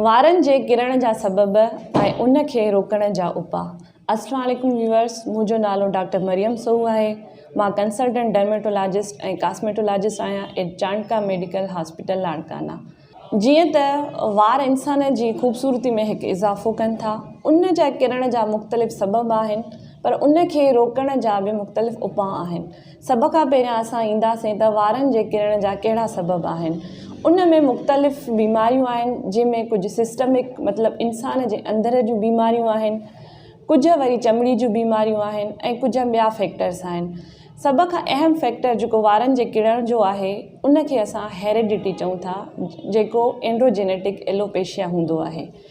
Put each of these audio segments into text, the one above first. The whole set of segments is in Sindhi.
وارن جي ڪرڻ جا سبب ۽ ان کي روڪڻ جا اپاء السلام عليڪم ويورس منهنجو نالو ڊاڪٽر مريم سوهو آهي مان ڪنسلٽنٽ ڊرميٽولاجسٽ ۽ ڪاسميٽولاجسٽ آهيان at Chandka medical hospital Larkana جيئن ته وار انسان جي خوبصورتي ۾ هڪ اضافو ڪن ٿا ان جا ڪرڻ جا مختلف سبب آهن پر ان کي روڪڻ جا به مختلف اپاء آهن سڀ کان پهريان اسان اينداسين ته وارن جي ڪرڻ جا ڪهڙا سبب آهن. ان ۾ مختلف بيماريون آهن جنهن ۾ ڪجهه سسٽمڪ مطلب انسان جي اندر جون بيماريون آهن ڪجهه وري چمڙي جون بيماريون آهن ۽ ڪجهه ٻيا فيڪٽرس آهن سڀ کان اهم فيڪٽر جيڪو وارن جي ڪرڻ جو آهي ان کي اسان هيريڊٽي چئون ٿا جيڪو اينڊروجينيٽڪ ايلوپيشيا هوندو آهي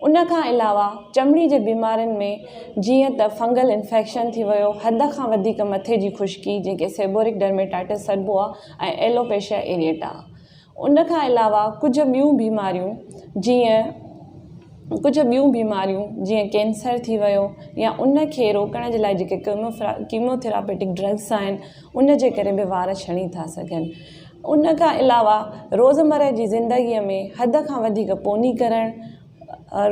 ان کان علاوه چمڙي جي بيمارين ۾ جيئن ته فنگل انفيڪشن ٿي ويو، حد کان وڌيڪ مٿي جي خشڪي جنهن کي سيبورڪ ڊرميٽائٽس سڏبو آهي ۽ ايلوپيشيا ايريٽا. ان کان علاوه ڪجهه ٻيون بيماريون جيئن ڪجهه ٻيون بيماريون جيئن ڪينسر ٿي ويو يا ان کي روڪڻ جي لاء جيڪي ڪيموٿراپيٽڪ ڊرگس آهن ان جي ڪري به وار ڇڻي ٿا سگهن. ان کان علاوه روزمره جي زندگيء ۾ حد کان وڌيڪ پوني ڪرڻ،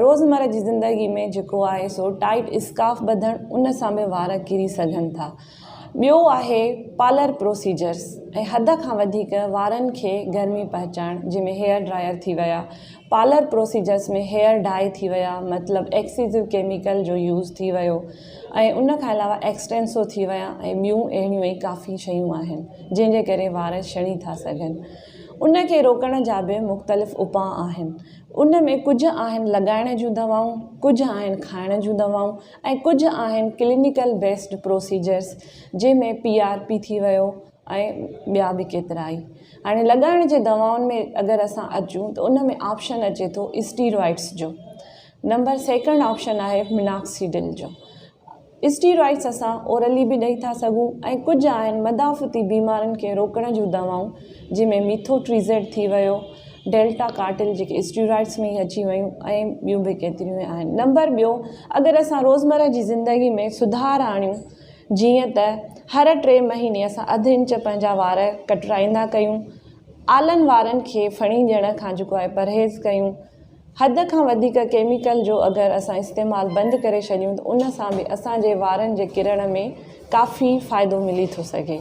روزمره جي زندگيء ۾ جيڪو آهي سو ٽائيٽ اسڪارف ٻڌڻ ان سان به وار ڪري سگهن ٿا. ٻيو آهي پارلر پروسيجرز ۽ حد کان وڌيڪ وارن کي گرمي پهچائڻ جنهن ۾ هيئر ڊرائير ٿي ويا، پارلر پروسيجرز ۾ هيئر ڊائي ٿي ويا مطلب ايڪسيزو ڪيميڪل جو يوز ٿي ويو ۽ ان کان علاوه ايڪسٽينسو ٿي ويا ۽ ٻيون اهڙيون ئي ڪافي شيون آهن جنهن جي ڪري وار شڻي ٿا سگهن ان کي روڪڻ جا به مختلف اپاء آهن ان ۾ ڪجهه آهن لڳائڻ جون دوائون ڪجهه آهن کائڻ جون دوائون ۽ ڪجهه آهن ڪلينيڪل بيسڊ پروسيجرز جنهن ۾ پي آر پي ٿي ويو ۽ ٻيا به ڪيترائي هاڻي لڳائڻ جي دوائن ۾ اگر اسان اچون ته ان ۾ آپشن اچي ٿو اسٽيرائڊس جو نمبر سيڪنڊ آپشن آهي مناڪسيڊل جو اسٽيرائڊس اسان اورلي به ڏئي ٿا سگهون ۽ ڪجهه آهن مدافعتي بيمارين کي روڪڻ جون دوائون جن ۾ ميٿو ٽريزيڊ ٿي ويو ڊيلٽا ڪارٽل جيڪي اسٽيرائڊس ۾ اچي ويون ۽ ٻيون به ڪيتريون آهن نمبر ٻيو اگر اسان روزمره جي زندگي ۾ سڌار آڻيون جيئن ته هر ٽي مهيني اسان اڌ انچ پنهنجا وار ڪٽرائيندا ڪيون، آلن وارن کي ڦڻي ڏيڻ کان جيڪو آهي پرهيز ڪيون، حد کان وڌيڪ ڪيميڪل جو اگر اسان استعمال بند ڪري ڇڏيون ته ان سان به اسان جي وارن جي ڪرڻ ۾ ڪافي فائدو ملي ٿو سگهي.